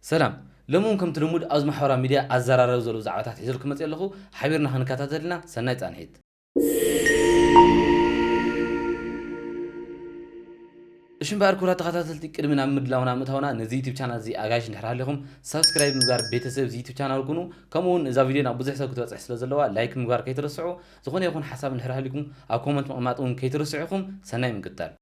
ሰላም ሎሚ ውን ከምቲ ልሙድ ኣብዚ ማሕበራዊ ሚድያ ኣዘራረቢ ዘለዉ ዛዕባታት ሒዘልኩም መጺኤ ኣለኹ ሓቢርና ክንከታተል ኢና ሰናይ ጻንሒት። እሺ እምበኣር ክቡራት ተኸታተልቲ ቅድሚ ናብ ምድላውና ምእታውና ነዚ ዩቱብ ቻናል እዚ ኣጋይሽ እንድሕር ሃሊኹም ሳብስክራይብ ብምግባር ቤተሰብ እዚ ዩቱብ ቻናል ኩኑ ከምኡ ውን እዛ ቪድዮ ናብ ብዙሕ ሰብ ክትበጽሕ ስለ ዘለዋ ላይክ ምግባር ከይትረስዑ ዝኾነ ይኹን ሓሳብ እንድሕር ሃሊኩም ኣብ ኮመንት ምቕማጥ ውን ከይትርስዑ ኢኹም ሰናይ ምቅጥጣል።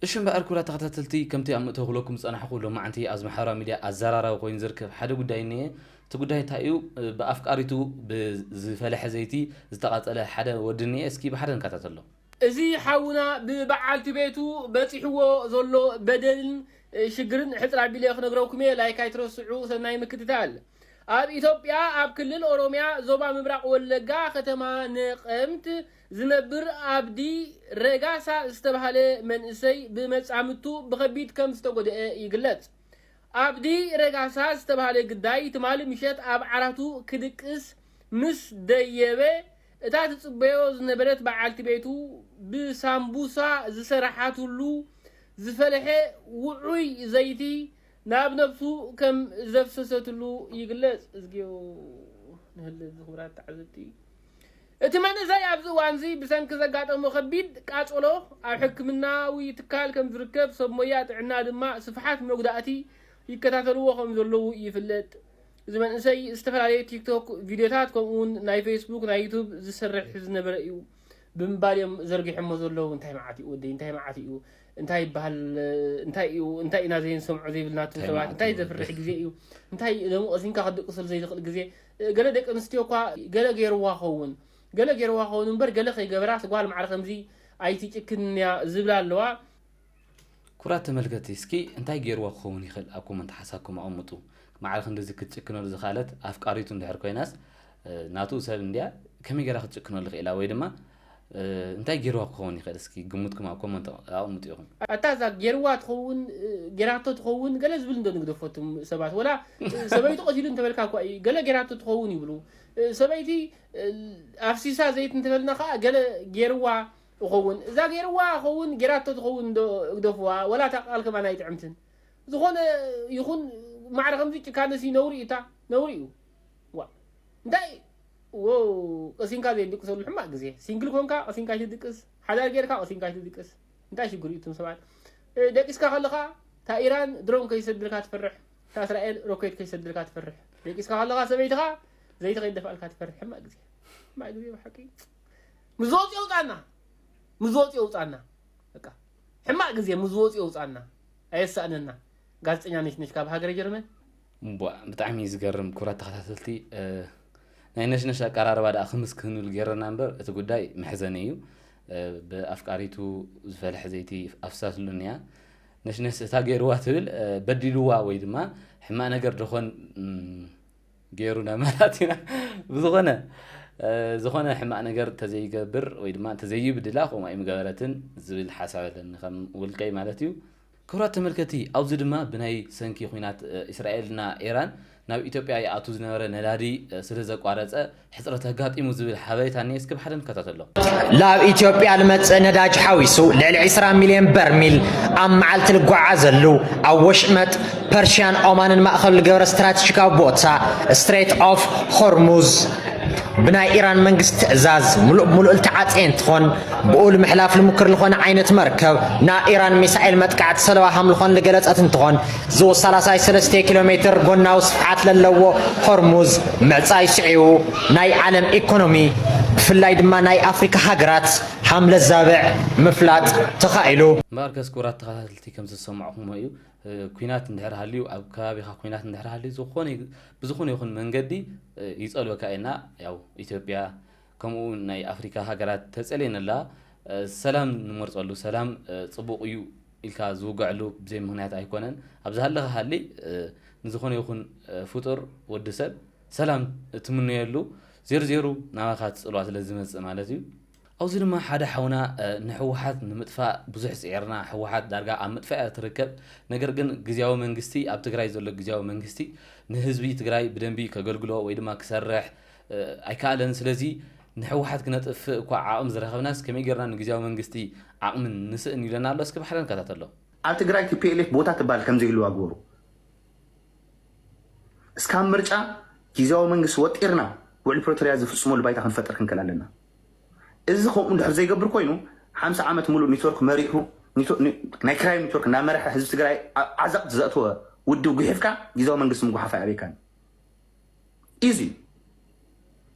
እሺ እምበኣር ኩብራት ተኸታተልቲ ከምቲ ኣብ ምእተዊ ክብለኩም ዝጸናሕኩ ሎማዓንቲ ኣብዚ ማሕበራዊ ሚድያ ኣዛራራቢ ኮይኑ ዝርከብ ሓደ ጉዳይ እኒኤ እቲ ጉዳይ እንታይ እዩ ብኣፍቃሪቱ ብዝፈለሐ ዘይቲ ዝተቓጸለ ሓደ ወዲ እኒኤ እስኪ ብሓደ ንከታተሎ እዚ ሓውና ብበዓልቲ ቤቱ በጺሕዎ ዘሎ በደልን ሽግርን ሕጽር ኣቢለ ክነግረኩም እየ ላይክ ኣይትረስዑ ሰናይ ምክትታል። ኣብ ኢትዮጵያ ኣብ ክልል ኦሮሚያ ዞባ ምብራቕ ወለጋ ከተማ ነቐምት ዝነብር ኣብዲ ረጋሳ ዝተብሃለ መንእሰይ ብመጻምድቱ ብኸቢድ ከም ዝተጎድኤ ይግለጽ። ኣብዲ ረጋሳ ዝተብሃለ ግዳይ ትማሊ ምሸት ኣብ ዓራቱ ክድቅስ ምስ ደየበ እታ ትጽበዮ ዝነበረት በዓልቲ ቤቱ ብሳምቡሳ ዝሰረሓትሉ ዝፈለሐ ውዑይ ዘይቲ ናብ ነብሱ ከም ዘፍሰሰትሉ ይግለጽ። እዝግዮ ንህሊ እዚ ክቡራት ተዓዘብቲ። እቲ መንእሰይ ኣብዚ እዋንዚ ብሰንኪ ዘጋጠሞ ከቢድ ቃጸሎ ኣብ ሕክምናዊ ትካል ከም ዝርከብ ሰብ ሞያ ጥዕና ድማ ስፍሓት መጉዳእቲ ይከታተልዎ ከም ዘለዉ ይፍለጥ። እዚ መንእሰይ ዝተፈላለየ ቲክቶክ ቪድዮታት ከምኡውን ናይ ፌስቡክ ናይ ዩቱብ ዝሰርሕ ዝነበረ እዩ። ብምባል እዮም ዘርጊሖሞ ዘለዉ እንታይ መዓት እዩ ወደይ እንታይ መዓት እዩ እንታይ ይበሃል እንታይ እዩ እንታይ ኢና ዘይንሰምዖ ዘይብልና እቶም ሰባት እንታይ ዘፍርሕ ግዜ እዩ እንታይ ሎሚ ቀሲንካ ክትድቅሰሉ ዘይትኽእል ግዜ ገለ ደቂ ኣንስትዮ እኳ ገለ ገይርዋ ኸውን ገለ ገይርዋ ኸውን እምበር ገለ ከይገበራ ስጓል ማዕረ ከምዚ ኣይትጭክንን እያ ዝብላ ኣለዋ ኩራት ተመልከቲ እስኪ እንታይ ገይርዋ ክኸውን ይኽእል ኣብ ኮመንት ሓሳብኩም ኣቐምጡ ማዕረ ክንድዚ ክትጭክነሉ ዝኽኣለት ኣፍቃሪቱ እንድሕር ኮይናስ ናቱ ሰብ እንድያ ከመይ ገይራ ክትጭክነሉ ክኢላ ወይ ድማ እንታይ ጌርዋ ክኸውን ይኽእል እስኪ ግምትኩም ኣብ ኮመንት ኣቅምጡ ኢኹም። ኣታ እዛ ጌርዋ ትኸውን ጌራቶ ትኸውን ገለ ዝብል እንዶ ንግደፎ እቱም ሰባት ወላ ሰበይቱ ቀቲሉ እንተበልካ እኳ እዩ ገለ ጌራቶ ትኸውን ይብሉ ሰበይቲ ኣፍሲሳ ዘይት እንተበልና ከኣ ገለ ጌርዋ እኸውን እዛ ጌርዋ እኸውን ጌራቶ ትኸውን እንዶ እግደፍዋ ወላ እታ ቃል ከማን ኣይጥዕምትን ዝኾነ ይኹን ማዕረ ከምዚ ጭካነሲ ነውሪ እታ ነውሪ እዩ ዋ እንታይ ዎው ቀሲንካ ዘይድቅሰሉ ሕማቅ ግዜ ሲንግል ኮንካ ቀሲንካ ኣይትድቅስ ሓዳር ጌርካ ቀሲንካ ኣይትድቅስ እንታይ ሽግር እዩ እቱም ሰባት ደቂስካ ከለካ እታ ኢራን ድሮን ከይሰድልካ ትፈርሕ እታ እስራኤል ሮኬት ከይሰድልካ ትፈርሕ ደቂስካ ከለካ ሰበይትካ ዘይቲ ከይደፋልካ ትፈርሕ ሕማቅ ግዜ ሕማቅ ግዜ ብሓቂ ምስ ዝወፅ የውፃና ምስ ዝወፅ የውፃና በቃ ሕማቅ ግዜ ምስ ዝወፅ የውፃና ኣየሳእነና ጋዜጠኛ ነሽ ነሽ ካብ ሃገረ ጀርመን እምቧእ ብጣዕሚ ዝገርም ክብራት ተኸታተልቲ ናይ ነሽነሽ ኣቀራርባ ደኣ ክምስ ክህንሉ ገይረና እምበር እቲ ጉዳይ መሕዘኒ እዩ ብኣፍቃሪቱ ዝፈልሐ ዘይቲ ኣፍሳስሉን እያ ነሽነሽ እታ ገይርዋ ትብል በዲልዋ ወይ ድማ ሕማቅ ነገር ደኾን ገይሩ ነመራት ኢና ብዝኾነ ዝኾነ ሕማቅ ነገር ተዘይገብር ወይ ድማ ተዘይብድላ ከምኡ ኣይምገበረትን ዝብል ሓሳብ ኣለኒ ከም ውልቀይ ማለት እዩ ክብራት ተመልከቲ ኣብዚ ድማ ብናይ ሰንኪ ኩናት ኢስራኤል እና ኤራን ናብ ኢትዮጵያ ይኣቱ ዝነበረ ነዳዲ ስለ ዘቋረጸ ሕጽረት ኣጋጢሙ ዝብል ሓበሬታ እኒኤ እስኪ ብሓደ ንከታተሎ። ላብ ኢትዮጵያ ልመጽእ ነዳጅ ሓዊሱ ልዕሊ ዕስራ ሚልዮን በርሚል ኣብ መዓልቲ ልጓዓዘሉ ኣብ ወሽመጥ ፐርሽያን ኦማንን ማእከሉ ልገብረ ስትራትሽካዊ ቦታ፣ ስትሬት ኦፍ ሆርሙዝ፣ ብናይ ኢራን መንግስት ትዕዛዝ ምሉእ ብምሉእ ልተዓፀየ እንትኾን ብኡ ልምሕላፍ ልሙክር ልኾነ ዓይነት መርከብ ናብ ኢራን ሚሳኤል መጥቃዕቲ ሰለዋ ሃምልኾን ልገለፀት እንትኾን ዝውሳላሳይ ሰለስቴ ኪሎ ሜትር ጎናዊ ስፍሓት ለለዎ ሆርሙዝ ምዕፃይ ስዒቡ ናይ ዓለም ኢኮኖሚ ብፍላይ ድማ ናይ ኣፍሪካ ሃገራት ሃምለዛብዕ ምፍላጥ ተኻኢሉ። እምበኣርከስ ክቡራት ተኸታተልቲ ከምዝሰማዕኹምዎ እዩ ኩናት እንድሕር ሃልዩ ኣብ ከባቢኻ ኩናት እንድሕር ሃልዩ ዝኾነ ብዝኾነ ይኹን መንገዲ ይጸልወካ እየና ያው ኢትዮጵያ ከምኡ ናይ ኣፍሪካ ሃገራት ተጸልየን ኣላ ሰላም ንመርጸሉ ሰላም ጽቡቕ እዩ ኢልካ ዝውገዐሉ ብዘይ ምክንያት ኣይኮነን ኣብዚ ሃለኻ ሃሊ ንዝኾነ ይኹን ፍጡር ወዲ ሰብ ሰላም ትምነየሉ ዜሩ ዜሩ ናባኻ ትጽልዋ ስለ ዝመጽእ ማለት እዩ ኣብዚ ድማ ሓደ ሓውና ንሕወሓት ንምጥፋእ ብዙሕ ፅዒርና ሕወሓት ዳርጋ ኣብ ምጥፋእ እያ ትርከብ ነገር ግን ግዝያዊ መንግስቲ ኣብ ትግራይ ዘሎ ግዝያዊ መንግስቲ ንህዝቢ ትግራይ ብደንቢ ከገልግሎ ወይ ድማ ክሰርሕ ኣይከኣለን ስለዚ ንሕወሓት ክነጥፍእ እኳ ዓቕሚ ዝረኸብናስ ከመይ ገይርና ንግዝያዊ መንግስቲ ዓቕሚ ንስእን ኢሉና ኣሎ እስኪ ባሕሪ ንከታተሎ። ኣብ ትግራይ tplf ቦታ ትባል ከምዘይህልዋ ግበሩ። እስካብ ምርጫ ጊዜያዊ መንግስቲ ወጢርና ውዕል ፕሪቶሪያ ዝፍፅመሉ ባይታ ክንፈጥር ክንክእል ኣለና። እዚ ከምኡ እንድሕር ዘይገብር ኮይኑ ሓምሳ ዓመት ሙሉእ ኔትወርክ መሪሑ ናይ ክራይ ኔትወርክ እናመርሐ ህዝቢ ትግራይ ኣብ ዓዘቕት ዘእተወ ውድብ ጉሒፍካ ጊዜያዊ መንግስቲ ምጉሓፍ ኣይኣብየካን ኢዚ እዩ።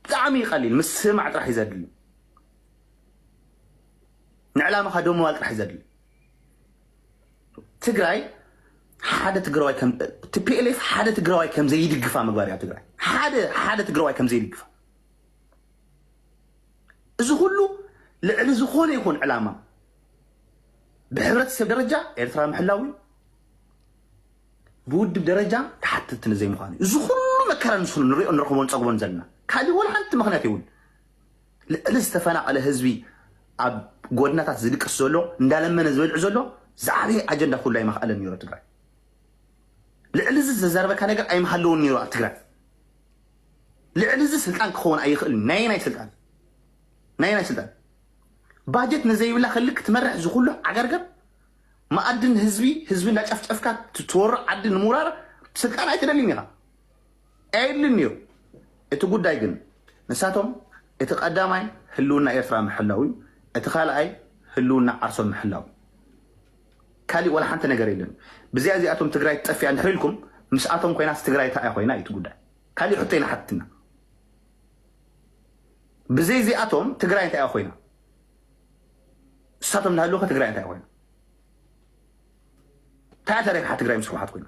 ብጣዕሚ እዩ ቀሊል ምስማዕ ጥራሕ እዩ ዘድሊ ንዕላማኻ ደምባል ጥራሕ እዩ ዘድሊ ትግራይ ሓደ ትግራዋይ ከም ቲፒኤልኤፍ ሓደ ትግራዋይ ከም ዘይድግፋ ምግባር እያ ትግራይ ሓደ ሓደ ትግራዋይ ከም ዘይድግፋ እዚ ኩሉ ልዕሊ ዝኾነ ይኹን ዕላማ ብሕብረተሰብ ደረጃ ኤርትራ ምሕላው እዩ ብውድብ ደረጃ ተሓተትቲ ንዘይምዃኑ እዩ እዚ ኩሉ መከራ ንሱ ንሪኦ ንረኽቦን ፀግቦን ዘለና ካልእ ወላ ሓንቲ ምክንያት የብሉ ልዕሊ ዝተፈናቐለ ህዝቢ ኣብ ጎድናታት ዝድቅስ ዘሎ እንዳለመነ ዝበልዕ ዘሎ ዝዓበየ ኣጀንዳ ኩሉ ኣይመኽኣለን ነይሮ ትግራይ ልዕሊ እዚ ዘዛርበካ ነገር ኣይመሃለውን ነይሩ ኣብ ትግራይ ልዕሊ እዚ ስልጣን ክኸውን ኣይኽእል ናይ ናይ ስልጣን ናይ ናይ ስልጣን ባጀት ንዘይብላ ክሊ ክትመርሕ ዝኩሉ ዓገርገር መኣድን ህዝቢ ህዝቢ እንዳጨፍጨፍካ ትወሮ ዓዲ ንምውራር ስልጣን ኣይትደልይን ኢኻ ኣይድልን እዩ እቲ ጉዳይ ግን ንሳቶም እቲ ቀዳማይ ህልውና ኤርትራ ምሕላው እዩ እቲ ካልኣይ ህልውና ዓርሶም ምሕላው እዩ ካሊእ ዋላ ሓንቲ ነገር የለን ብዚኣ እዚኣቶም ትግራይ ትጠፊኣ እንድሕር ኢልኩም ምስኣቶም ኮይናስ ትግራይ እንታይ እያ ኮይና እዩ እቲ ጉዳይ ካሊእ ሕቶ ይንሓትትና ብዘይ እዚኣቶም ትግራይ እንታይ እያ ኮይና ንሳቶም እንዳሃለዉ ከ ትግራይ እንታይ እያ ኮይና እንታይ እያ ተረቢሓ ትግራይ ምስ ህወሓት ኮይና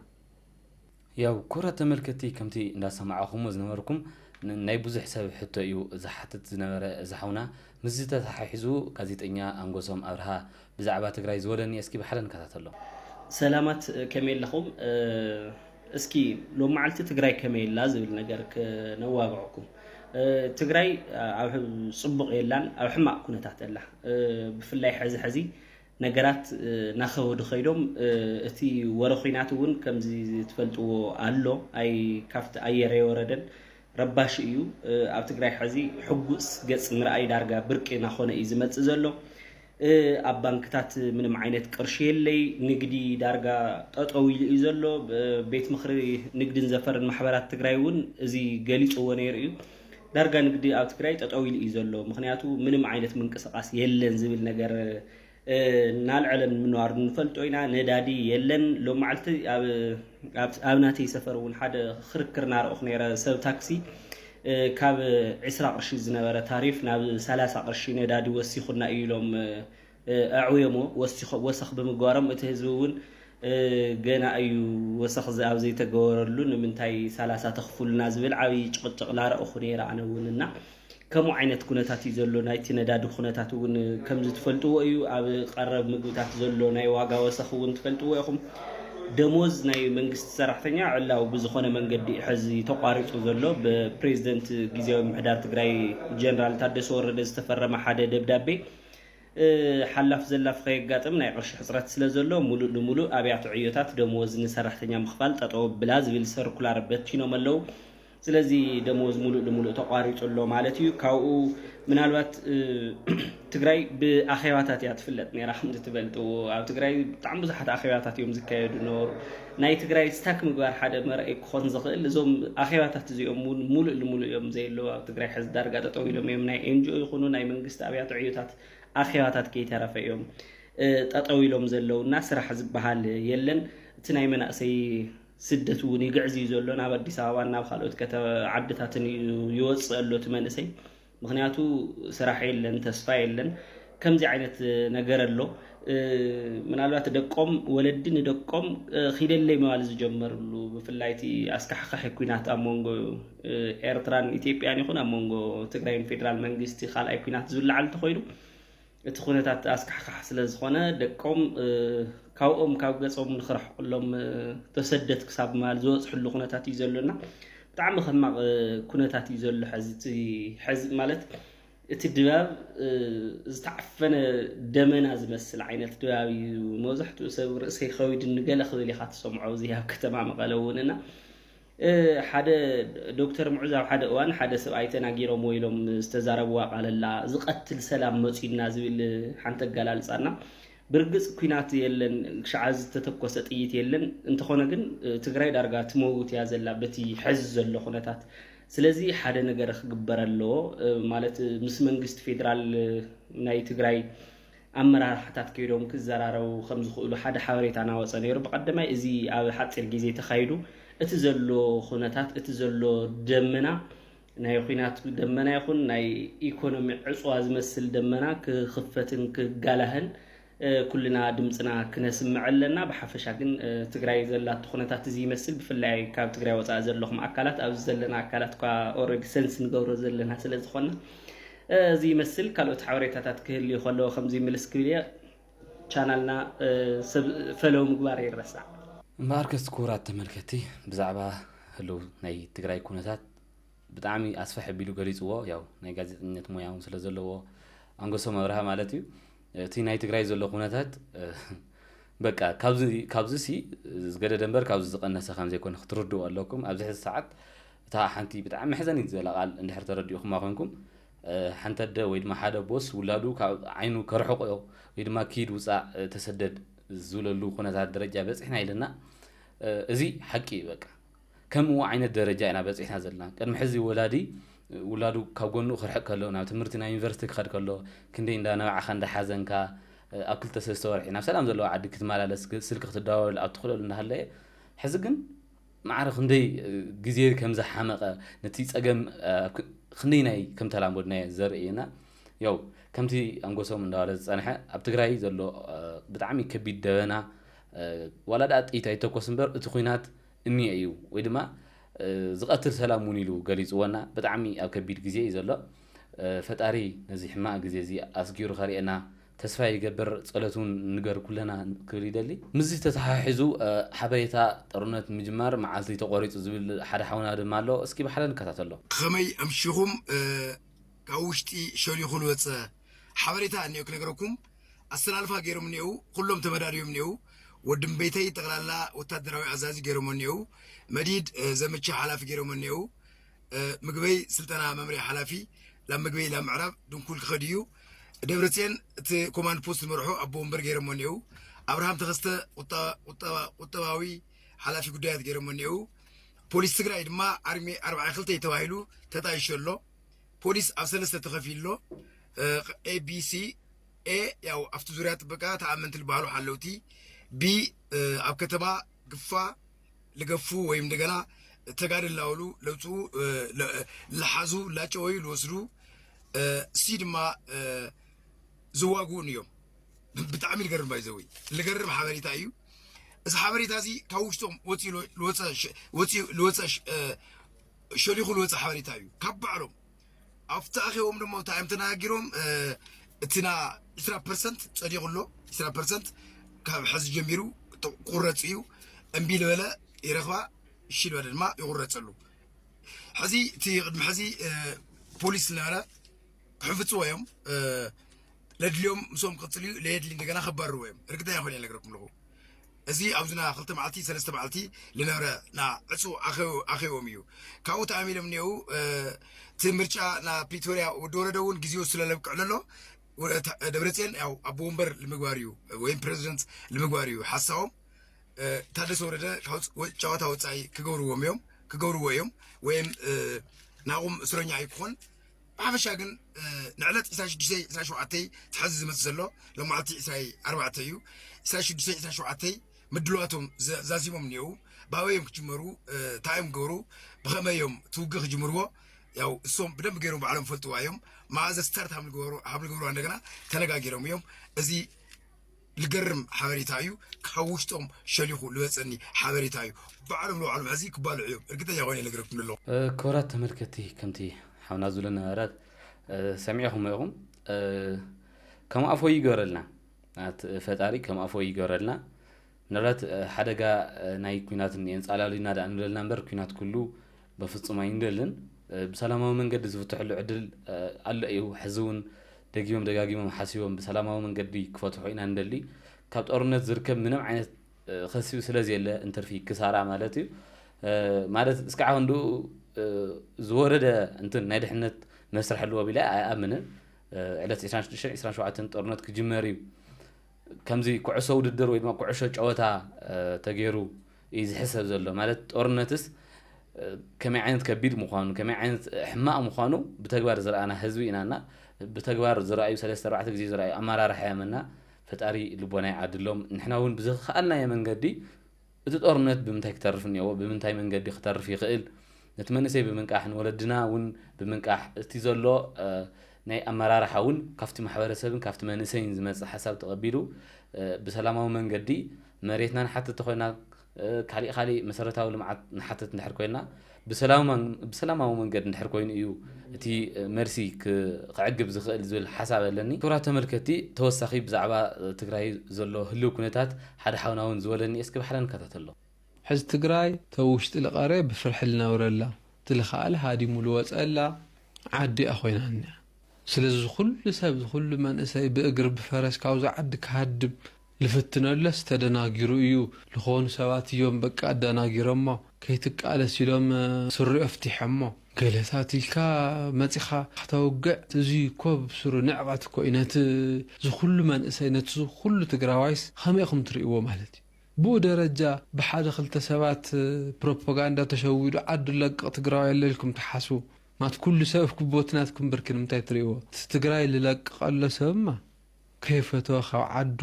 ያው ኩብራት ተመልከቲ ከምቲ እንዳሰማዕኹሞ ዝነበርኩም ናይ ብዙሕ ሰብ ሕቶ እዩ ዝሓትት ዝነበረ እዚ ሓውና ምስዚ ተታሓሒዙ ጋዜጠኛ ኣንጎሶም ኣብርሃ ብዛዕባ ትግራይ ዝበሎ እኒኤ እስኪ ብሓደ ንከታተሎ። ሰላማት ከመይ ኣለኹም እስኪ ሎማዓልቲ ትግራይ ከመይ ኣላ ዝብል ነገር ክነዋግዐኩም ትግራይ ኣብ ፅቡቕ የላን ኣብ ሕማቕ ኩነታት ኣላ ብፍላይ ሐዚ ሐዚ ነገራት ናኸበዱ ከይዶም እቲ ወረ ኹናት እውን ከምዚ ትፈልጥዎ ኣሎ ኣይ ካፍቲ ኣየር ኣየወረደን ረባሺ እዩ ኣብ ትግራይ ሕዚ ሕጉስ ገጽ ምርኣይ ዳርጋ ብርቂ ናኾነ እዩ ዝመጽእ ዘሎ ኣብ ባንክታት ምንም ዓይነት ቅርሺ የለይ ንግዲ ዳርጋ ጠጠው ኢሉ እዩ ዘሎ ቤት ምኽሪ ንግድን ዘፈርን ማሕበራት ትግራይ እውን እዚ ገሊጽዎ ነይሩ እዩ ዳርጋ ንግዲ ኣብ ትግራይ ጠጠው ኢሉ እዩ ዘሎ፣ ምኽንያቱ ምንም ዓይነት ምንቅስቓስ የለን ዝብል ነገር እናልዐለ ምንባሩ ንፈልጦ ኢና። ነዳዲ የለን። ሎም መዓልቲ ኣብ ናተይ ሰፈር እውን ሓደ ክርክር ናረእኹ ነይረ። ሰብ ታክሲ ካብ ዕስራ ቅርሺ ዝነበረ ታሪፍ ናብ ሰላሳ ቅርሺ ነዳዲ ወሲኹና እዩ ኢሎም ኣዕውዮሞ ወሰኽ ብምግባሮም እቲ ህዝቢ ውን ገና እዩ ወሰኽ ኣብ ዘይተገበረሉ ንምንታይ ሰላሳ ተኽፉሉና ዝብል ዓብይ ጭቕጭቕ ናረእኹ ነይረ ኣነ ውን እና ከምኡ ዓይነት ኩነታት እዩ ዘሎ ናይቲ ነዳዲ ኩነታት ውን ከምዚ ትፈልጥዎ እዩ ኣብ ቀረብ ምግብታት ዘሎ ናይ ዋጋ ወሰኽ ውን ትፈልጥዎ ኢኹም ደሞዝ ናይ መንግስቲ ሰራሕተኛ ዕላዊ ብዝኾነ መንገዲ እዩ ሕዚ ተቋሪፁ ዘሎ ብፕሬዝደንት ግዝያዊ ምምሕዳር ትግራይ ጀነራል ታደሰ ወረደ ዝተፈረመ ሓደ ደብዳቤ ሓላፍ ዘላፍ ኸየጋጥም ናይ ቕርሺ ሕፅረት ስለ ዘሎ ሙሉእ ንሙሉእ ኣብያተ ዕዮታት ደመወዝ ንሰራሕተኛ ምኽፋል ጠጠው ኣብላ ዝብል ሰርኩላር በቲኖም ኣለው። ስለዚ ደመወዝ ሙሉእ ንሙሉእ ተቋሪፁ ኣሎ ማለት እዩ። ካብኡ ምናልባት ትግራይ ብኣኼባታት እያ ትፍለጥ ነይራ ከምዝትበልጥዎ ኣብ ትግራይ ብጣዕሚ ብዙሓት ኣኼባታት እዮም ዝካየዱ ነበሩ። ናይ ትግራይ ስታክ ምግባር ሓደ መርኣዪ ክኾን ዝኽእል እዞም ኣኼባታት እዚኦም እውን ሙሉእ ልሙሉእ እዮም ዘየለዉ ኣብ ትግራይ ሐዚ ዳርጋ ጠጠው ኢሎም እዮም ናይ ኤንጅኦ ይኹኑ ናይ መንግስቲ ኣብያተ ዕዮታት ኣኼባታት ከይተረፈ እዮም ጠጠው ኢሎም ዘለው እና ስራሕ ዝበሃል የለን እቲ ናይ መናእሰይ ስደት እውን ይግዕዝ እዩ ዘሎ ናብ ኣዲስ ኣበባን ናብ ካልኦት ዓድታትን እዩ ይወፅእ ኣሎ እቲ መንእሰይ ምክንያቱ ስራሕ የለን ተስፋ የለን ከምዚ ዓይነት ነገር ኣሎ ምናልባት ደቆም ወለዲ ንደቆም ኪደለይ መባል ዝጀመርሉ ብፍላይ እቲ ኣስካሕካሒ ኩናት ኣብ መንጎ ኤርትራን ኢትዮጵያን ይኹን ኣብ መንጎ ትግራይን ፌዴራል መንግስቲ ካልኣይ ኩናት ዝውላዓል እንተኮይኑ እቲ ኩነታት ኣስካሕካሕ ስለ ዝኾነ ደቆም ካብኦም ካብ ገጾም ንክርሕቁሎም ተሰደት ክሳብ ምባል ዝበጽሕሉ ኩነታት እዩ ዘሎና ብጣዕሚ ከማቕ ኩነታት እዩ ዘሎ ሕዚ ሕዚ ማለት እቲ ድባብ ዝተዓፈነ ደመና ዝመስል ዓይነት ድባብ እዩ መብዛሕትኡ ሰብ ርእሰይ ከዊድኒ ገለ ክብል ኢኻ ትሰምዖ እዚ ኣብ ከተማ መቐለ እውን እና ሓደ ዶክተር ሙዑዝ ኣብ ሓደ እዋን ሓደ ሰብኣይ ተናጊሮምዎ ኢሎም ዝተዛረብዋ ቃል ኣላ ዝቀትል ሰላም መጽዩና ዝብል ሓንቲ ኣገላልጻ እና ብርግጽ ኩናት የለን ክሻዕ ሐዚ ዝተተኮሰ ጥይት የለን እንተኾነ ግን ትግራይ ዳርጋ ትመውት እያ ዘላ በቲ ሐዚ ዘሎ ኩነታት ስለዚ ሓደ ነገር ክግበር ኣለዎ ማለት ምስ መንግስቲ ፌደራል ናይ ትግራይ ኣመራርሓታት ከይዶም ክዘራረቡ ከም ዝኽእሉ ሓደ ሓበሬታ ናወጸ ነይሩ። ብቐደማይ እዚ ኣብ ሓጺር ግዜ ተኻይዱ እቲ ዘሎ ኩነታት እቲ ዘሎ ደመና ናይ ኹናት ደመና ይኹን ናይ ኢኮኖሚ ዕጽዋ ዝመስል ደመና ክኽፈትን ክጋላህን ኩልና ድምጽና ክነስምዕ ኣለና። ብሓፈሻ ግን ትግራይ ዘላቶ ኩነታት እዚ ይመስል። ብፍላይ ካብ ትግራይ ወጻኢ ዘለኹም ኣካላት ኣብዚ ዘለና ኣካላት እኳ ኦልሬዲ ሰንስ ንገብሮ ዘለና ስለ ዝኾና እዚ ይመስል ካልኦት ሓበሬታታት ክህልዩ ከለዎ ከምዚ ምልስ ክብል እየ ቻናልና ፈለው ምግባር ይረሳዕ። እምበኣርከስ ክቡራት ተመልከትቲ ብዛዕባ ህሉው ናይ ትግራይ ኩነታት ብጣዕሚ ኣስፍሕ ኣቢሉ ገሊፅዎ ያው ናይ ጋዜጠኝነት ሞያ እውን ስለ ዘለዎ ኣንጎሶም ኣብርሃ ማለት እዩ እቲ ናይ ትግራይ ዘሎ ኩነታት በቃ ካብዚሲ ዝገደደ እምበር ካብዚ ዝቐነሰ ከም ዘይኮነ ክትርድኡ ኣለኩም። ኣብዚ ሕዚ ሰዓት እታ ሓንቲ ብጣዕሚ መሕዘኒት ዝበላ ቃል እንድሕር ተረዲኡኹማ ኮይንኩም ሓንቲ ኣደ ወይ ድማ ሓደ ኣቦስ ውላዱ ካብ ዓይኑ ከርሕቆ ወይ ድማ ኪድ ውፃእ ተሰደድ ዝብለሉ ኩነታት ደረጃ በፂሕና ኢለና እዚ ሓቂ እዩ በቃ ከምኡ ዓይነት ደረጃ ኢና በጺሕና ዘለና። ቅድሚ ሕዚ ወላዲ ውላዱ ካብ ጎኑ ክርሕቅ ከሎ፣ ናብ ትምህርቲ ናብ ዩኒቨርሲቲ ክኸድ ከሎ ክንደይ እንዳ ነባዕኻ እንዳ ሓዘንካ ኣብ ክልተ ሰለስተ ወርሒ ናብ ሰላም ዘለዎ ዓዲ ክትመላለስ ስልኪ ክትደዋወለሉ ኣብ ትኽእለሉ እንዳሃለየ ሕዚ ግን ማዕረ ክንደይ ግዜ ከም ዝሓመቐ ነቲ ጸገም ክንደይናይ ከም ተላመድናዮ ዘርእየና ያው ከምቲ ኣንጎሶም እንዳበለ ዝጸንሐ ኣብ ትግራይ ዘሎ ብጣዕሚ ከቢድ ደበና ዋላ ድኣ ጥይት ኣይተኮስ እምበር እቲ ኩናት እኒኤ እዩ ወይ ድማ ዝቐትል ሰላም እውን ኢሉ ገሊጽዎና ብጣዕሚ ኣብ ከቢድ ግዜ እዩ ዘሎ ፈጣሪ ነዚ ሕማቕ ግዜ እዚ ኣስጊሩ ከርእየና ተስፋ ይገብር ጸሎት እውን ንገር ኩለና ክብል ይደሊ ምስዚ ተተሓሒዙ ሓበሬታ ጦርነት ምጅማር መዓልቲ ተቖሪጹ ዝብል ሓደ ሓውና ድማ ኣሎ እስኪ ብሓደ ንከታተሎ። ብኸመይ ኣምሺኹም? ካብ ውሽጢ ሸሊኹ ልወጸ ሓበሬታ እኔኦ ክነግረኩም ኣሰላልፋ ገይሮም እኔእው ኹሎም ተመዳድዮም እኔእው ወድምቤተይ ጠቅላላ ወታደራዊ ኣዛዚ ገይሮሞ እኔእው መዲድ ዘመቻ ሓላፊ ገይሮሞ እኔእው ምግበይ ስልጠና መምሪያ ሓላፊ ላብ ምግበይ ላብ ምዕራብ ድንኩል ክኸድ እዩ ደብረፅየን እቲ ኮማንድ ፖስት ዝመርሖ ኣቦ ወንበር ገይሮሞ እኔእው ኣብርሃም ተኸስተ ቁጠባዊ ሓላፊ ጉዳያት ገይሮሞ እኔእው ፖሊስ ትግራይ ድማ ኣርሚ ኣርባዓ ክልተ ተባሂሉ ተጣይሾ ኣሎ ፖሊስ ኣብ ሰለስተ ተኸፊሎ ኤቢሲ ኤ ያው ኣብቲ ዙሪያ ጥበቃ ተኣመንቲ ዝበሃሉ ሓለውቲ ቢ ኣብ ከተማ ግፋ ልገፉ ወይ እንደገና ተጋድል ላውሉ ለውፅኡ ልሓዙ ላጨወዩ ልወስዱ ሲ ድማ ዝዋግኡን እዮም ብጣዕሚ ልገርም ባይዘዊ ልገርም ሓበሬታ እዩ እዚ ሓበሬታ እዚ ካብ ውሽጦም ወፂኡ ልወፀ ሸሊኹ ልወፀ ሓበሬታ እዩ ካብ ባዕሎም ኣብቲ ኣኼቦም ድማ እንታይ እዮም ተነጋጊሮም እቲ ና ዕስራ ፐርሰንት ፀዲቑ ኣሎ ዕስራ ፐርሰንት ካብ ሕዚ ጀሚሩ ቁረፅ እዩ እምቢ ልበለ ይረኽባ እሺ ልበለ ድማ ይቑረፀሉ ሕዚ እቲ ቅድሚ ሕዚ ፖሊስ ዝነበረ ክሕፍፅዎ እዮም ለድልዮም ምስኦም ክቅጽል እዩ ለየድሊ እንደገና ከባርርዎ እዮም እርግጠኛ ኮይነ ነገረኩም ኣለኹ እዚ ኣብዝና ክልተ መዓልቲ ሰለስተ መዓልቲ ልነብረ ና ዕፁ ኣኼቦም እዩ ካብኡ ተኣሚሎም እኒአው እቲ ምርጫ ና ፕሪቶሪያ ወዲ ወረደ እውን ግዜኡ ስለለብቅዕ ለሎ ደብረፅዮን ያው ኣቦ ወንበር ልምግባር እዩ ወይም ፕሬዚደንት ልምግባር እዩ ሓሳቦም ታደሰ ወረደ ጨዋታ ወፃኢ ክገብርዎም እዮም ክገብርዎ እዮም ወይም ናቑም እስረኛ ኣይክኾን ብሓፈሻ ግን ንዕለት ዕስራን ሽዱሽተይ ዕስራን ሸውዓተይ እቲ ሕዚ ዝመፅእ ዘሎ ሎማዕቲ ዕስራይ ኣርባዕተ እዩ ዕስራን ሽዱሽተይ ዕስራን ሸውዓተይ ምድልዋቶም ዘ- ዛዚሞም እኒአው ብኣበይ እዮም ክጅመሩ እ፣ እንታይ እዮም ክገብሩ ብኸመይ እዮም እቲ ውግእ ክጅምርዎ ያው እሶም ብደንብ ገይሮም ባዕሎም ፈልጥዋ እዮም መዓዘ ስታርት ሃም ዝገበሩ ሃም ዝገብርዋ እንደገና ተነጋጊሮም እዮም እዚ ልገርም ሓበሬታ እዩ ካብ ውሽጦም ሸሊኹ ልበፀኒ ሓበሬታ እዩ ባዕሎም ንባዕሎም ሕዚ ክባልዑ እዮም እርግጠኛ ኮይነ ልገረኩም ለለኹ። ክብራት ተመልከቲ ከምቲ ሓውና ዝብሎ ነበረ ሰሚዕኹሞ ኢኹም ከም ኣፎይ ይግበረልና ኣት ፈጣሪ ከም ኣፎይ ይግበረልና ምናልባት ሓደጋ ናይ ኩናት እኒኤ እንፃላሉይና ድኣ ንብለልና እምበር ኩናት ኩሉ በፍጹም ኣይንደልን። ብሰላማዊ መንገዲ ዝፍትሐሉ ዕድል ኣሎ እዩ። ሕዚ እውን ደጊሞም ደጋጊሞም ሓሲቦም ብሰላማዊ መንገዲ ክፈትሑ ኢና እንደሊ። ካብ ጦርነት ዝርከብ ምንም ዓይነት ኸሲብ ስለዘየለ እንትርፊ ክሳራ ማለት እዩ። ማለት እስካዕ ክንድኡ ዝወረደ እንትን ናይ ድሕነት መስርሕ ኣለዎ ቢለ ኣይኣምንን። ዕለት ዕስራን ሽዱሽተን ዕስራን ሸውዓተን ጦርነት ክጅመር እዩ። ከምዚ ኩዕሶ ውድድር ወይ ድማ ኩዕሾ ጨወታ ተገይሩ እዩ ዝሕሰብ ዘሎ ማለት ጦርነትስ ከመይ ዓይነት ከቢድ ምዃኑ ከመይ ዓይነት ሕማቕ ምዃኑ ብተግባር ዝረኣና ህዝቢ ኢና እና ብተግባር ዝረኣዩ ሰለስተ ኣርባዕተ ግዜ ዝረኣዩ ኣመራርሓ እዮም እና ፈጣሪ ልቦና ይዓድሎም ንሕና እውን ብዝኸኣልናዮ መንገዲ እቲ ጦርነት ብምንታይ ክተርፍ እኒኦዎ ብምንታይ መንገዲ ክተርፍ ይኽእል ነቲ መንእሰይ ብምንቃሕ ንወለድና ውን ብምንቃሕ እቲ ዘሎ ናይ ኣመራርሓ ውን ካብቲ ማሕበረሰብን ካብቲ መንእሰይን ዝመፅእ ሓሳብ ተቐቢሉ ብሰላማዊ መንገዲ መሬትና ንሓትት ተኾይና ካሊእ ካሊእ መሰረታዊ ልምዓት ንሓትት እንድሕር ኮይና ብሰላማዊ መንገድ እንድሕር ኮይኑ እዩ እቲ መልሲ ክዕግብ ዝኽእል ዝብል ሓሳብ ኣለኒ። ክብራት ተመልከቲ ተወሳኺ ብዛዕባ ትግራይ ዘሎ ህልው ኩነታት ሓደ ሓውና ውን ዝበለኒ እስኪ ባሕረ ንከታተሎ። ሕዚ ትግራይ ተብ ውሽጢ ልቀሬ ብፍርሒ ልነብረላ ትልኻኣል ሃዲሙ ልወፀላ ዓዲ እያ ኮይና እኒኣ ስለዚ ዝኹሉ ሰብ ዝኹሉ መንእሰይ ብእግር ብፈረስ ካብዛ ዓዲ ክሃድም ልፍትነሎስ ተደናጊሩ እዩ ልኾኑ ሰባት እዮም በቃ ኣዳናጊሮሞ ከይትቃለስ ኢሎም ስሩ ኣፍቲሐሞ ገለታት ኢልካ መፂኻ ክተውግዕ እዙይ እኮ ብስሩ ንዕቀት እኮ እዩ ነቲ ዝኹሉ መንእሰይ ነቲ ዝኹሉ ትግራዋይስ ኸመይ እኹም ትሪእዎ ማለት እዩ ብኡ ደረጃ ብሓደ ክልተ ሰባት ፕሮፖጋንዳ ተሸዊዱ ዓዱ ለቅቅ ትግራዋይ ኣሎ ኢልኩም ትሓስቡ ማት ኩሉ ሰብ ክቦቲ ናትኩም ብርኪ ንምንታይ ትሪእዎ እቲ ትግራይ ልለቅቅ ኣሎ ሰብማ ከይፈተወ ካብ ዓዱ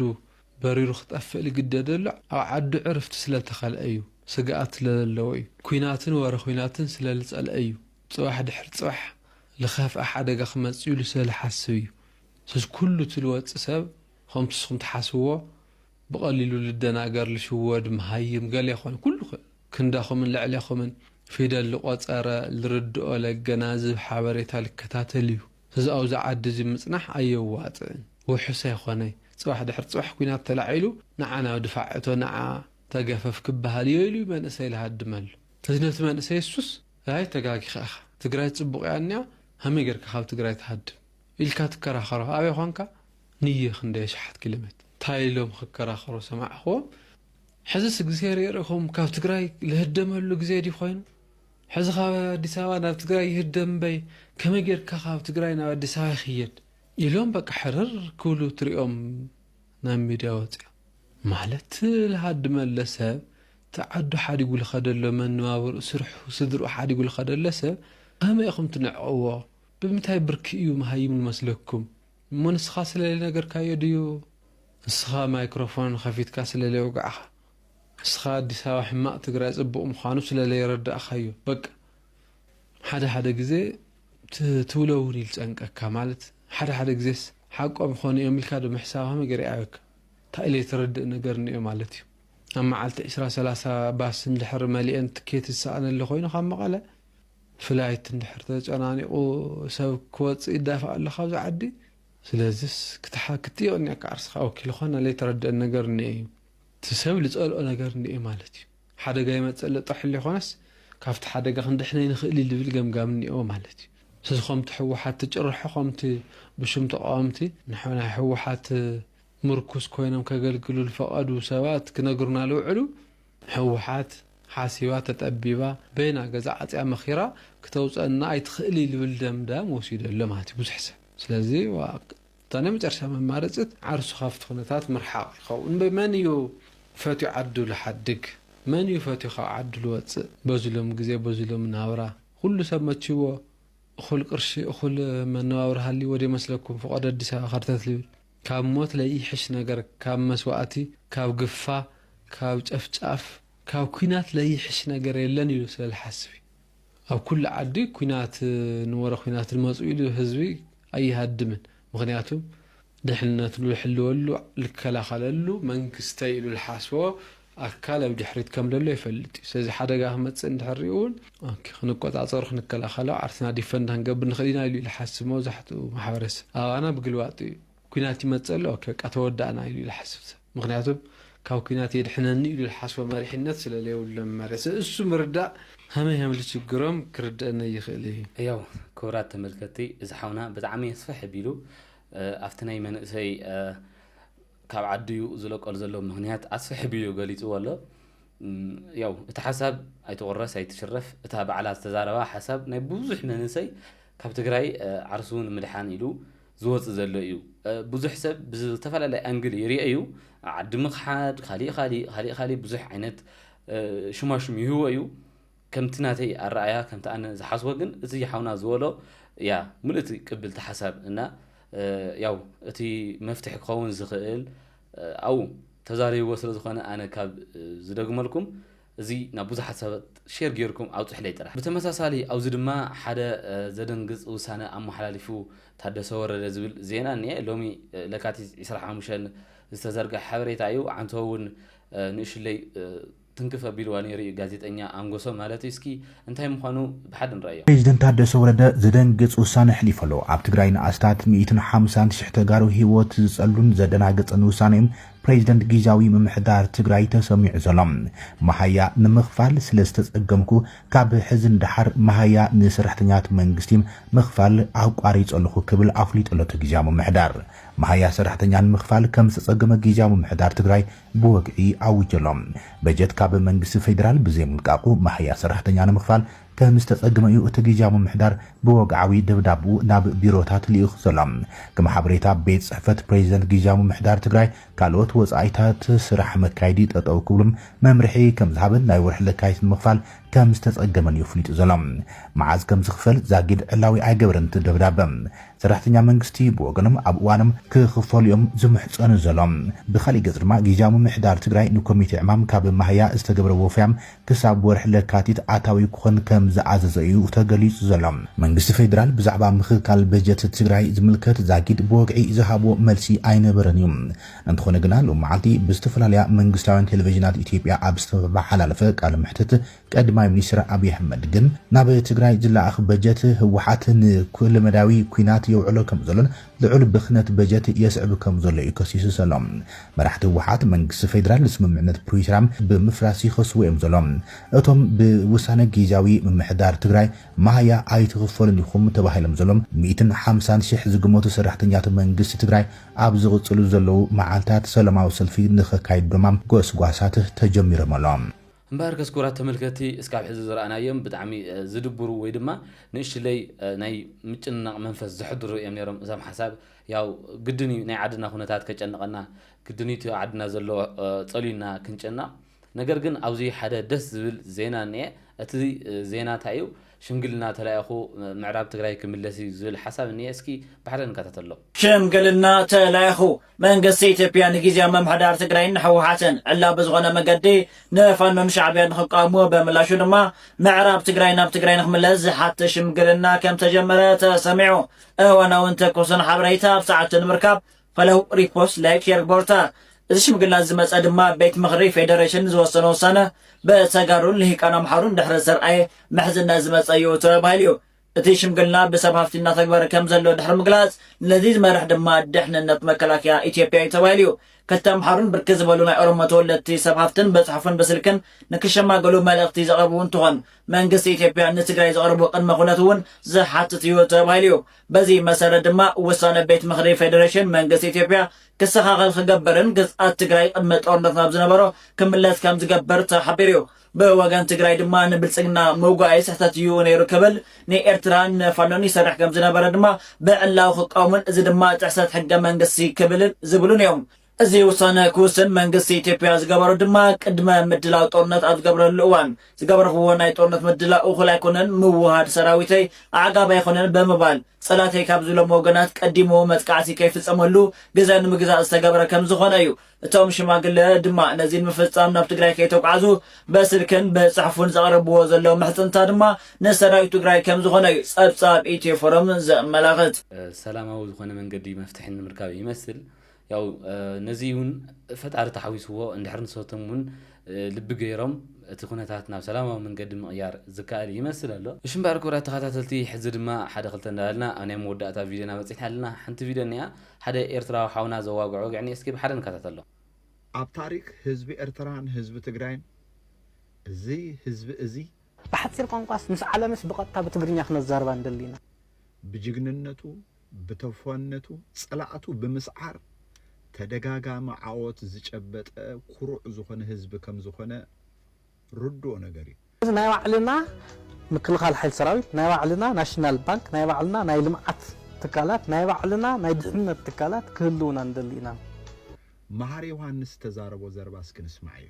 በሪሩ ክጠፍእ ልግደደሉ ኣብ ዓዱ ዕርፍቲ ስለ ተኸልአ እዩ ስግኣት ስለ ለለዎ እዩ ኩናትን ወረ ኩናትን ስለ ልፀልአ እዩ ፅባሕ ድሕሪ ፅባሕ ልኸፍኣ ሓደጋ ክመፅእ ኢሉ ስለ ልሓስብ እዩ ስለዚ ኩሉ እቲ ልወፅእ ሰብ ኸምቲ ንስኹም ትሓስብዎ ብቀሊሉ ልደናገር ልሽወድ መሃይም ገሌ ኮን ኩሉ ክንደኹምን ልዕሌኹምን ፊደል ልቆጸረ ልርድኦ ለገናዝብ ሓበሬታ ልከታተል እዩ ስዚ ኣውዚ ዓዲ እዚ ምጽናሕ ኣየዋጽእን ውሑስ ኣይኾነይ ጽባሕ ድሕሪ ጽባሕ ኩናት ተላዒሉ ንዓ ናብ ድፋዕ እቶ ንዓ ተገፈፍ ክበሃል እዮ ኢሉ እዩ መንእሰይ ልሃድመሉ ስዚ ነቲ መንእሰይ እሱስ ኣይ ተጋጊኻ ኢኻ ትግራይ ጽቡቅ እያ እኒኣ ሃመይ ገርካ ካብ ትግራይ ትሃድም ኢልካ ትከራኸሮ ኣበይ ኾንካ ንየ ክንደይ ኣሽሓት ኪሎሜት ታይ ኢሎም ክከራከሩ ሰማዕክዎም ሕዝስ እግዝሄር የርእኹም ካብ ትግራይ ልህደመሉ ግዜ ድዩ ኮይኑ ሕዚ ካብ ኣዲስ ኣበባ ናብ ትግራይ ይህደም እምበይ ከመይ ጌርካ ካብ ትግራይ ናብ ኣዲስ ኣበባ ይኽየድ ኢሎም በቃ ሕርር ክብሉ ትሪኦም ናብ ሚድያ ወፂኦም ማለት ልሃድመለ ሰብ እቲ ዓዱ ሓዲጉ ልኸደሎ መነባብርኡ ስርሑ ስድርኡ ሓዲጉ ልኸደለ ሰብ ከመይ ኢኹም ትንዕቅዎ ብምንታይ ብርኪ እዩ መሃይም ልመስለኩም እሞ ንስኻ ስለሊ ነገርካዮ ድዩ ንስኻ ማይክሮፎን ኸፊትካ ስለሊ ኣውጋዕኻ ንስኻ ኣዲስ ኣበባ ሕማቅ ትግራይ ፅቡቅ ምዃኑ ስለሊ የረዳእኻዮ በቃ ሓደ ሓደ ግዜ ትብሎ እውን ይልጨንቀካ ማለት ሓደ ሓደ ግዜስ ሓቆም ይኾኑ እዮም ኢልካ ዶ ምሕሳብ ኸመይ ገይረ ይኣብየካ እንታይ ኢለ የተረድእ ነገር እኒኦ ማለት እዩ ኣብ መዓልቲ ዕስራ ሰላሳ ባስ እንድሕር መሊኤን ትኬት ዝሰኣነሊ ኾይኑ ካብ መቐለ ፍላይት እንድሕር ተጨናኒቑ ሰብ ክወጽእ ይዳፋእ ኣሎ ካብዚ ዓዲ ስለዚስ ክትሓ ክትዮ እኒኣካ ዓርስኻ ወኪል ኾና ለይተረደአን ነገር እኒኦ እዩ እቲ ሰብ ልጸልኦ ነገር እኒኦ እዩ ማለት እዩ ሓደጋ ይመጽእ ኣሎ ጥራሕ ለይኾነስ ካብቲ ሓደጋ ክንድሕን ኣይንኽእል እዩ ልብል ገምጋም እኒኦ ማለት እዩ ስለዚ ኾምቲ ሕወሓት ትጭርሖ ኾምቲ ብሹም ተቓወምቲ ናይ ሕወሓት ምርኩስ ኮይኖም ከገልግሉ ልፈቐዱ ሰባት ክነግሩና ልውዕሉ ህውሓት ሓሲባ ተጠቢባ በይና ገዛ ዓጽያ መኺራ ክተውጸና ኣይትኽእልይ ልብል ደምዳም ወሲዱ ኣሎ ማለት እዩ ብዙሕ ሰብ ስለዚ ዋእ እታ ናይ መጨረሻ መማረጺት ዓርሱ ካብቲ ኩነታት ምርሓቕ ይኸውን እምበይ መን እዩ ፈትዩ ዓዱ ልሓድግ መን እዩ ፈትዩ ካብ ዓዱ ልወጽእ በዚ ሎሚ ግዜ በዚ ሎሚ ናብራ ኹሉ ሰብ መችይዎ እኹል ቅርሺ እኹል መነባብሮ ሃልይዎ ዶ ይመስለኩም ፍቖዶ ኣዲስ ኣበባ ከርተት ልብል ካብ ሞት ለይሕሽ ነገር ካብ መስዋእቲ ካብ ግፋ ካብ ጨፍጫፍ ካብ ኩናት ለይሕሽ ነገር የለን ኢሉ ስለ ልሓስብ እዩ ኣብ ኩሉ ዓዲ ኩናት ን ወረ ኩናት ልመፁ ኢሉ ህዝቢ ኣይሃድምን ምክንያቱ ድሕንነቱ ልሕልወሉ ልከላከለሉ መንግስተይ ኢሉ ልሓስቦ ኣካል ኣብ ድሕሪት ከም ደሎ ይፈልጥ እዩ ስለዚ ሓደጋ ክመጽእ እንድሕር ሪኡ ውን ኦኬ ክንቆጻጸሮ ክንከላኸሎ ዓርስና ዲፈንድ ክንገብር ንኽእል ኢና ኢሉ እዩ ልሓስብ መብዛሕትኡ ማሕበረሰብ ኣባና ብግልባጡ እዩ ኩናት ይመጽእ ኣሎ ኦኬ በቃ ተወዳእና ኢሉ እዩ ልሓስብ ሰብ ምኽንያቱ ካብ ኩናት የድሕነኒ ኢሉ ልሓስቦ መሪሕነት ስለ ለይብሉ መመርያ ስለ እሱ ምርዳእ ሀመይ ሀም ልችግሮም ክርደእነይ ይኽእል እዩ። ያው ክቡራት ተመልከትቲ እዚ ሓውና ብጣዕሚ ስፍሕ ኣቢሉ ኣብቲ ናይ መንእሰይ ካብ ዓዲ'ዩ ዝለቀሉ ዘሎ ምኽንያት ኣስሕብ'ዩ ገሊጽዎ ኣሎ። ያው እቲ ሓሳብ ኣይትቑረስ ኣይትሽረፍ እታ ባዕላ ዝተዛረባ ሓሳብ ናይ ብዙሕ መንእሰይ ካብ ትግራይ ዓርሱ ንምድሓን ኢሉ ዝወጽእ ዘሎ እዩ። ብዙሕ ሰብ ብዝተፈላለየ ኣንግል ይርኦ እዩ። ዓዲ ምኽሓድ፣ ካሊእ ካሊእ ካሊእ ካሊእ ብዙሕ ዓይነት ሽማሽም ይህቦ እዩ። ከምቲ ናተይ ኣራኣያ ከምቲ ኣነ ዝሓስቦ ግን እቲ ሓውና ዝበሎ እያ ምልእቲ ቅብልቲ ሓሳብ እና ያው እቲ መፍትሒ ክኸውን ዝኽእል ኣብኡ ተዛሪብዎ ስለ ዝኾነ ኣነ ካብ ዝደግመልኩም እዚ ናብ ብዙሓት ሰባት ሼር ጌርኩም ኣውጽሕለይ ጥራሕ። ብተመሳሳሊ ኣብዚ ድማ ሓደ ዘደንግጽ ውሳነ ኣመሓላሊፉ ታደሰ ወረደ ዝብል ዜና እኒኤ ሎሚ ለካቲት ዕስራን ሓሙሽተን ዝተዘርገሐ ሓበሬታ እዩ ዓንተቦ እውን ንእሽለይ ትንክፍ ኣቢልዋ ነይሩ እዩ ጋዜጠኛ ኣንጎሶ ማለት እዩ እስኪ እንታይ ምኳኑ ብሓደ ንርኣዮ። ፕሬዚደንት ታደሰ ወረደ ዘደንግፅ ውሳነ ኣሕሊፉ ኣሎ። ኣብ ትግራይ ንኣስታት ሚኢትን ሓምሳን ሽሕ ተጋሩ ህይወት ዝፀሉን ዘደናግፅን ውሳነ እዩ ፕሬዚደንት ጊዚያዊ ምምሕዳር ትግራይ ተሰሚዑ ዘሎ። መሃያ ንምኽፋል ስለዝተፀገምኩ ካብ ሕዚ ንደሓር መሃያ ንሰራሕተኛታት መንግስቲ ምኽፋል ኣቋሪፀ ኣለኹ ክብል ኣፍሊጡ ኣሎ እቲ ጊዚያዊ ምምሕዳር። መሃያ ሰራሕተኛ ንምኽፋል ከምዝተፀገመ ጊዚያዊ ምምሕዳር ትግራይ ብወግዒ ኣዊጁ ኣሎ። በጀት ካብ መንግስቲ ፌዴራል ብዘይምልቃቑ መሃያ ሰራሕተኛ ንምኽፋል ከምዝተፀገመ እዩ እቲ ጊዚያዊ ምምሕዳር ብወግዓዊ ደብዳብኡ ናብ ቢሮታት ልኢኹ ዘሎ። ከም ሓበሬታ ቤት ፅሕፈት ፕሬዚደንት ጊዚያዊ ምምሕዳር ትግራይ ካልኦት ወፃኢታት ስራሕ መካየዲ ጠጠው ክብሉ መምርሒ ከምዝሃበን ናይ ወርሒ ለካቲት ንምኽፋል ከምዝተፀገመን እዩ ኣፍሊጡ ዘሎ። መዓዝ ከምዝኽፈል ዛጊድ ዕላዊ ኣይገበረን እቲ ደብዳበ። ሰራሕተኛ መንግስቲ ብወገኖም ኣብ እዋኖም ክኽፈሉ እዮም ዝምሕጸኑ ዘሎም። ብኻሊእ ገጽ ድማ ጊዚያዊ ምምሕዳር ትግራይ ንኮሚቴ ዕማም ካብ መሃያ ዝተገብረ ወፈያ ክሳብ ወርሒ ለካቲት ኣታዊ ክኾን ከምዝኣዘዞ እዩ ተገሊጹ ዘሎ። መንግስቲ ፌደራል ብዛዕባ ምኽካል በጀት ትግራይ ዝምልከት ዛጊድ ብወግዒ ዝሃቦ መልሲ ኣይነበረን እዩ። እንተኾነ ግና ሎሚ መዓልቲ ብዝተፈላለያ መንግስታውያን ቴሌቪዥናት ኢትዮጵያ ኣብ ዝተመሓላለፈ ቃለ መሕትት ቀድማይ ሚኒስትር ኣብይ ኣሕመድ ግን ናብ ትግራይ ዝለኣኽ በጀት ህወሓት ንኩለመዳያዊ ኲናት የውዕሎ ከምዘሎን ልዑል ብኽነት በጀት የስዕብ ከምዘሎ እዩ ከሲሱ ዘሎ። መራሕቲ ህወሓት መንግስቲ ፌዴራል ንስምምዕነት ፕሪቶርያ ብምፍራስ ይኸስዎ እዮም ዘሎም። እቶም ብውሳነ ጊዚያዊ ምምሕዳር ትግራይ መሃያ ኣይትኽፈሉን ኢኹም ተባሂሎም ዘሎም ሚእትን ሓምሳን ሺሕ ዝግመቱ ሰራሕተኛታት መንግስቲ ትግራይ ኣብ ዝቕፅሉ ዘለዉ መዓልታት ሰላማዊ ሰልፊ ንኸካይዱ ድማ ጎስጓሳት ተጀሚሮም ኣሎም። እምበኣርከስ ክቡራት ተመልከትቲ እስካብ ሕዚ ዝረኣናዮም ብጣዕሚ ዝድብሩ ወይ ድማ ንእሽለይ ናይ ምጭንናቕ መንፈስ ዘሕድሩ እዮም ነይሮም እዞም ሓሳብ ያው ግድን እዩ ናይ ዓድና ኩነታት ከጨንቐና ግድን እዩ እቲ ኣብ ዓድና ዘሎ ጸልዩና ክንጭነቕ ነገር ግን ኣብዚ ሓደ ደስ ዝብል ዜና እኒኤ እቲ ዜና እንታይ እዩ ሽምግልና ተላኢኹ ምዕራብ ትግራይ ክምለስ እዩ ዝብል ሓሳብ እኒኤ እስኪ ባዕለን ንከታተሎ። ሽምግልና ተላኢኹ መንግስቲ ኢትዮጵያ ንጊዝያዊ ምምሕዳር ትግራይን ንህወሓትን ዕላዊ ብዝኾነ መገዲ ንፋኖን ሻዕብያን ንኽቃወሙ ብምላሹ ድማ ምዕራብ ትግራይ ናብ ትግራይ ንኽምለስ ዝሓትት ሽምግልና ከምተጀመረ ተሰሚዑ። እዋናውን ትኩስን ሓበሬታ ኣብ ሰዓቱ ንምርካብ Follow Repost Like Share Borta እዚ ሽምግልና ዝመፀ ድማ ቤት ምኽሪ ፌደሬሽን ዝወሰኖ ውሳነ ብተጋሩን ልሂቃን ኣምሓሩን ድሕሪ ዝተርኣየ ምሕዝነት ዝመፀ እዩ ተባሂሉ እዩ። እቲ ሽምግልና ብሰብ ሃፍቲ እናተግበረ ከምዘሎ ድሕሪ ምግላፅ፣ ነዚ ዝመርሕ ድማ ድሕንነት መከላከያ ኢትዮጵያ እዩ ተባሂሉ እዩ። ክልተ ኣምሓሩን ብርክት ዝበሉ ናይ ኦሮሞ ተወለድቲ ሰብ ሃፍትን በፅሑፍን ብስልክን ንክሸማገሉ መልእኽቲ ዘቕረቡ እንትኾን፣ መንግስቲ ኢትዮጵያ ንትግራይ ዘቕርቦ ቅድመ ኩነት እውን ዝሓትት እዩ ተባሂሉ እዩ። በዚ መሰረት ድማ ውሳነ ቤት ምኽሪ ፌዴሬሽን መንግስቲ ኢትዮጵያ ክሰኻኸል ክገብርን ግዝኣት ትግራይ ቅድመ ጦርነት ናብ ዝነበሮ ክምለስ ከምዝገብር ተሓቢሩ እዩ። ብወገን ትግራይ ድማ ንብልጽግና ምውጋኣይ ስሕተት እዩ ነይሩ ክብል፣ ንኤርትራን ንፋኖን ይሰርሕ ከም ዝነበረ ድማ ብዕላዊ ክቃወሙን እዚ ድማ ጥሕሰት ሕገ መንግስቲ ክብልን ዝብሉን እዮም። እዚ ውሳነ ክውስን መንግስቲ ኢትዮጵያ ዝገበሮ ድማ ቅድመ ምድላው ጦርነት ኣብ ዝገብረሉ እዋን ዝገበርኽዎ ናይ ጦርነት ምድላው እኹል ኣይኮነን፣ ምውህሃድ ሰራዊተይ ኣዕጋቢ ኣይኮነን ብምባል ጸላተይ ካብ ዝብሎም ወገናት ቀዲሙ መጥቃዕቲ ከይፍጸመሉ ግዘ ንምግዛእ ዝተገብረ ከም ዝኾነ እዩ። እቶም ሽማግለ ድማ ነዚ ንምፍጻም ናብ ትግራይ ከይተጓዕዙ በስልክን ብጽሕፉን ዘቕረብዎ ዘለዉ ምሕጽንታ ድማ ንሰራዊት ትግራይ ከምዝኾነ እዩ ጸብጻብ ኢትዮ ፎረም ዘመላኽት። ሰላማዊ ዝኾነ መንገዲ መፍትሒ ንምርካብ ይመስል። ያው ነዚ እውን ፈጣሪ ተሓዊስዎ እንድሕር ንሶቶም እውን ልቢ ገይሮም እቲ ኩነታት ናብ ሰላማዊ መንገዲ ምቕያር ዝከኣል ይመስል ኣሎ። እሺ እምበኣር ክቡራት ተኸታተልቲ ሕዚ ድማ ሓደ ክልተ እንዳበልና ኣብ ናይ መወዳእታ ቪድዮና በጺሕና ኣለና። ሓንቲ ቪድዮ እኒኣ። ሓደ ኤርትራዊ ሓውና ዘዋግዖ ወግዒኒ እስኪ ብሓደ ንከታተሎ። ኣብ ታሪክ ህዝቢ ኤርትራን ህዝቢ ትግራይን እዚ ህዝቢ እዚ። ብሓጺር ቋንቋስ ምስ ዓለምስ ብቐጥታ ብትግርኛ ክነዛርባ ንደሊ ኢና። ብጅግንነቱ ብተፏነቱ ጸላእቱ ብምስዓር ተደጋጋሚ ዓወት ዝጨበጠ ኩሩዕ ዝኾነ ህዝቢ ከምዝኾነ፣ ርዱኦ ነገር እዩ። ስለዚ ናይ ባዕልና ምክልኻል ሓይሊ ሰራዊት፣ ናይ ባዕልና ናሽናል ባንክ፣ ናይ ባዕልና ናይ ልምዓት ትካላት፣ ናይ ባዕልና ናይ ድሕንነት ትካላት ክህልዉና ንደሊ ኢና። መሃሪ ዮሃንስ ዝተዛረቦ ዘረባ እስኪ ንስማዓዮ።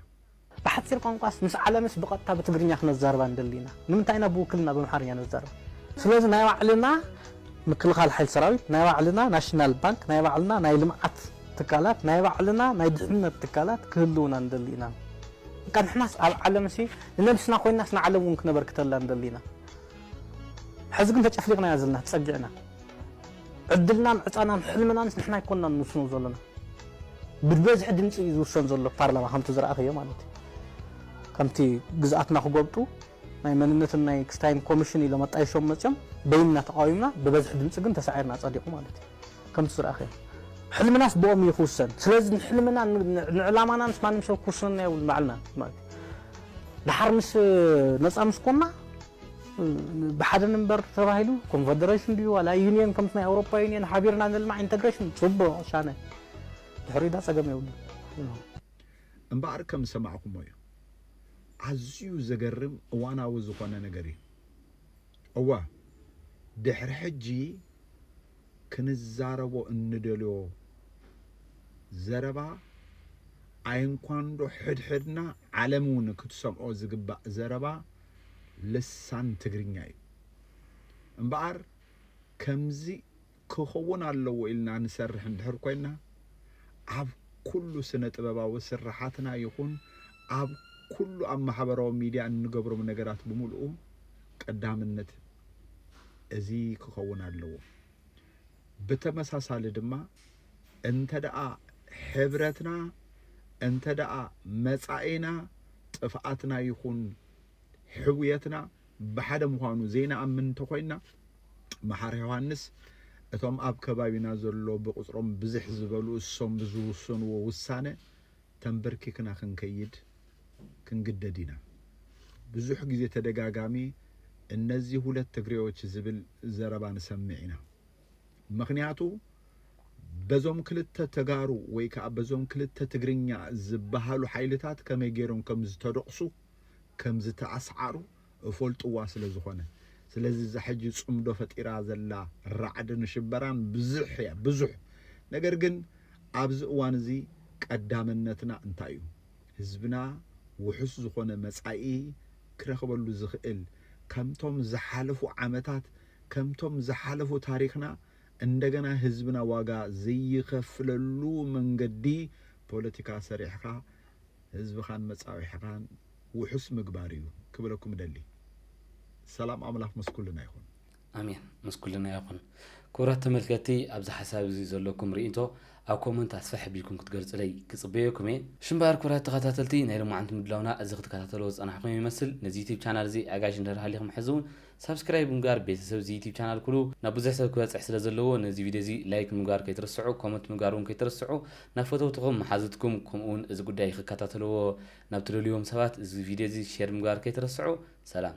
ብሓጺር ቋንቋስ ምስ ዓለምስ ብቐጥታ ብትግርኛ ክነዛርባ ንደሊ ኢና። ንምንታይ ኢና ብውክልና ብኣምሓርኛ ነዛርባ? ስለዚ ናይ ባዕልና ምክልኻል ሓይሊ ሰራዊት፣ ናይ ባዕልና ናሽናል ባንክ፣ ናይ ባዕልና ናይ ልምዓት ትካላት፣ ናይ ባዕልና ናይ ድሕንነት ትካላት ክህልዉና ንደሊ ኢና። በቃ ንሕናስ ኣብ ዓለምሲ ንነብስና ኮይናስ ንዓለም ውን ክነበርክተላ ንደሊ ኢና ሕዚ ግን ተጨፍሊቅናያ ዘለና ተጸጊዕና ዕድልናን ዕጻናን ሕልምናንስ ንሕና ኣይኮናን ንውስኖ ዘሎና ብበዝሒ ድምጺ እዩ ዝውሰን ዘሎ ፓርላማ ከምቲ ዝረኣኽዮ ማለት እዩ ከምቲ ግዝኣትና ክጎብጡ ናይ መንነትን ናይ ክስታይን ኮሚሽን ኢሎም ኣጣይሾም መጽዮም በይንና ተቃዊምና ብበዝሒ ድምጺ ግን ተሳዒርና ጸዲቁ ማለት እዩ ከምቲ ዝረኣኻዮ ሕልምናስ ብኦም እዩ ክውሰን ስለዚ ንሕልምና ንዕላማና ምስ ማንም ሰብ ክውስነና የብሉን ባዕልና ማለት እዩ ድሓር ምስ ነፃ ምስ ኮና ብሓደ ንበር ተባሂሉ ኮንፌደሬሽን ድዩ ዋላ ዩኒየን ከምቲ ናይ ኣውሮፓ ዩኒየን ሓቢርና ንልማዕ ኢንተግሬሽን ፅቡቕ ሻነ ድሕሪ ዳ ፀገም የብሉ እምበኣር ከም ዝሰማዕኩሞ እዩ ኣዝዩ ዘገርም እዋናዊ ዝኾነ ነገር እዩ። እወ፣ ድሕሪ ሕጂ ክንዛረቦ እንደልዮ ዘረባ ኣይንኳንዶ ሕድሕድና ዓለም እውን ክትሰምዖ ዝግባእ ዘረባ ልሳን ትግርኛ እዩ እምበኣር ከምዚ ክኸውን ኣለዎ ኢልና ንሰርሕ እንድሕር ኮይና፣ ኣብ ኩሉ ስነ ጥበባዊ ስርሓትና ይኹን ኣብ ኩሉ ኣብ ማሕበራዊ ሚድያ እንገብሮም ነገራት ብምልኡ ቀዳምነት እዚ ክኸውን ኣለዎ። ብተመሳሳሊ ድማ እንተድኣ ሕብረትና እንተድኣ መፃኢና ጥፍኣትና ይኹን ሕውየትና ብሓደ ምዃኑ ዘይንኣምን እንተኾይንና፣ መሓሪ ዮሃንስ እቶም ኣብ ከባቢና ዘሎ ብቕጽሮም ብዝሕ ዝበሉ እሶም ብዝውሰንዎ ውሳነ ተምበርኪክና ክንከይድ ክንግደድ ኢና። ብዙሕ ግዜ ተደጋጋሚ እነዚህ ሁለት ትግሬዎች ዝብል ዘረባ ንሰምዕ ኢና። ምኽንያቱ በዞም ክልተ ተጋሩ ወይ ከኣ በዞም ክልተ ትግርኛ ዝበሃሉ ሓይልታት ከመይ ገይሮም ከም ዝተደቑሱ፣ ከምዝተኣስዓሩ እፎልጥዋ ስለ ዝኾነ ስለዚ እዛ ሕጂ ጽምዶ ፈጢራ ዘላ ራዕድን ሽበራን ብዝሕ እያ ብዙሕ ነገር ግን ኣብዚ እዋን እዚ ቀዳምነትና እንታይ እዩ ህዝብና ውሑስ ዝኾነ መጻኢ ክረኽበሉ ዝኽእል ከምቶም ዝሓለፉ ዓመታት ከምቶም ዝሓለፉ ታሪኽና እንደገና ህዝብና ዋጋ ዘይኸፍለሉ መንገዲ ፖለቲካ ሰሪሕኻ ህዝብኻን መጻብሒኻን ውሑስ ምግባር እዩ ክብለኩም እደሊ። ሰላም ኣምላኽ ምስ ኩልና ይኹን። ኣሜን ምስ ኩልና ይኹን። ክቡራት ተመልከትቲ ኣብዚ ሓሳብ እዚ ዘለኩም ርኢንቶ ኣብ ኮመንት ኣስፍሕ ኣቢልኩም ክትገልጹለይ ክጽበየኩም እየ። ሽምባር ክቡራት ተኸታተልቲ ናይ ሎማዓንቲ ምድላውና እዚ ክትከታተልዎ ዝጸናሕኩም ይመስል። ነዚ ዩቱብ ቻናል እዚ ኣጋይሽ እንድህር ሃሊኹም ሕዚ ውን ሳብስክራይብ ብምግባር ቤተሰብ እዚ ዩቱብ ቻናል ኩኑ ናብ ብዙሕ ሰብ ክበጽሕ ስለ ዘለዎ ነዚ ቪድዮ እዚ ላይክ ምግባር ከይትርስዑ ኮመንት ምግባር ውን ከይትርስዑ ናብ ፈተውትኹም መሓዙትኩም ከምኡ ውን እዚ ጉዳይ ክከታተልዎ ናብ ትደልይዎም ሰባት እዚ ቪድዮ እዚ ሼር ምግባር ከይትርስዑ ሰላም።